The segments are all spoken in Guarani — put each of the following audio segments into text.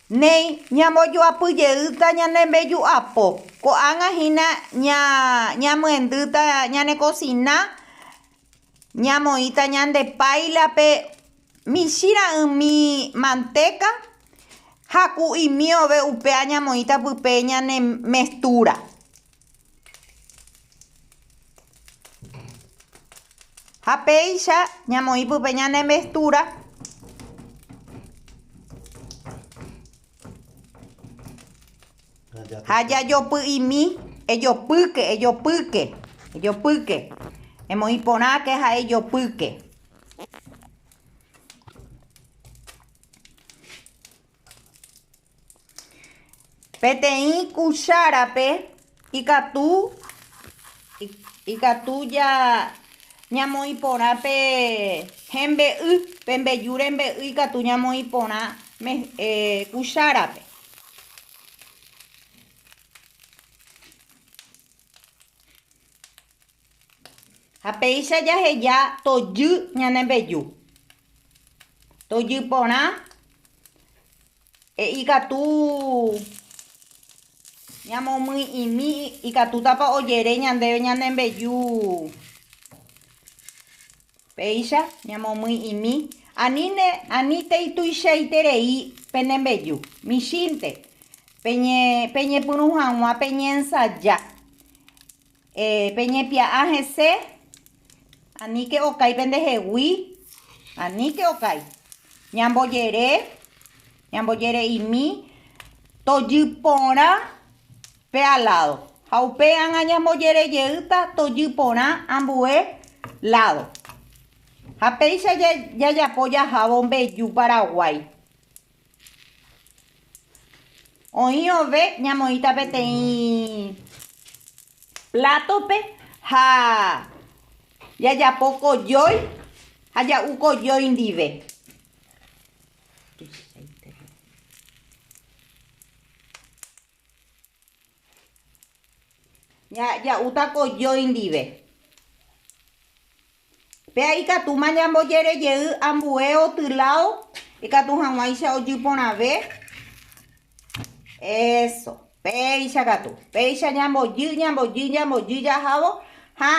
Néi, ñambojoapy jeýta ñane mbeju'apo. Ko'ág̃a hína ñamyendýta ñane kosina, ñamoĩta ñande páilape michĩ ra'ỹmi mantéka ha ku imiove upéa ñamoĩta pype ñane mestúra. Ha péicha ñamoĩ pype ñane mestúra. Ha jajopy'imi, ejopýke, ejopýke, ejopýke. Emoĩ porãke ha ejopýke. Peteĩ kuchárape ikatu, ikatu ja ñamoĩ porã pe hembe'y, pe mbeju rembe'y ikatu ñamoĩ porã eh, kuchárape. Ha péicha jaheja tojy ñane mbeju. Tojy porã He'i katu ñamomyi'ĩmi ikatútapa ojere ñandéve ñane mbeju. Péicha ñamomyi'ĩmi, aníne, aníntei tuichaiterei pene mbeju. Michĩnte, peñepyrũ hag̃ua peñensaja. Eh, peñepia'a hese, aníke okái pendehegui, aníke okái. Ñambojere, ñambojere'imi, tojy porã pe aládo. Ha upe ág̃a ñambojere jeýta tojy porã ambue ládo. Ha péicha jajapo jahávo mbeju Paraguái. Oĩ ove ñamoĩta peteĩ plátope ha jajapo kojói ha ja'u kojói ndive. Ja'úta kojói ndive. Péa ikatúma ñambojerejey ambue otylao ikatu hag̃uáicha ojy porãve. Eso. Péicha katu. Péicha ñambojy, ñambojy, ñambojy jahávo ha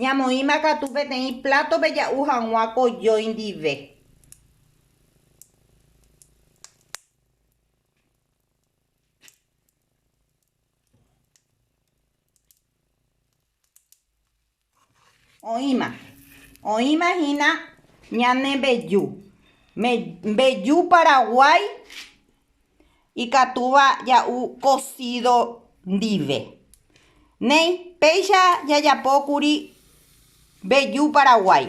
ñamoĩma katu peteĩ plátope ja'u hag̃ua ko jói ndive. Oĩma. Oĩma hína ñane mbeju. Mbeju Paraguái ikatúva ja'u kosído ndive. Néi, péicha jajapókuri mbeju Paraguái.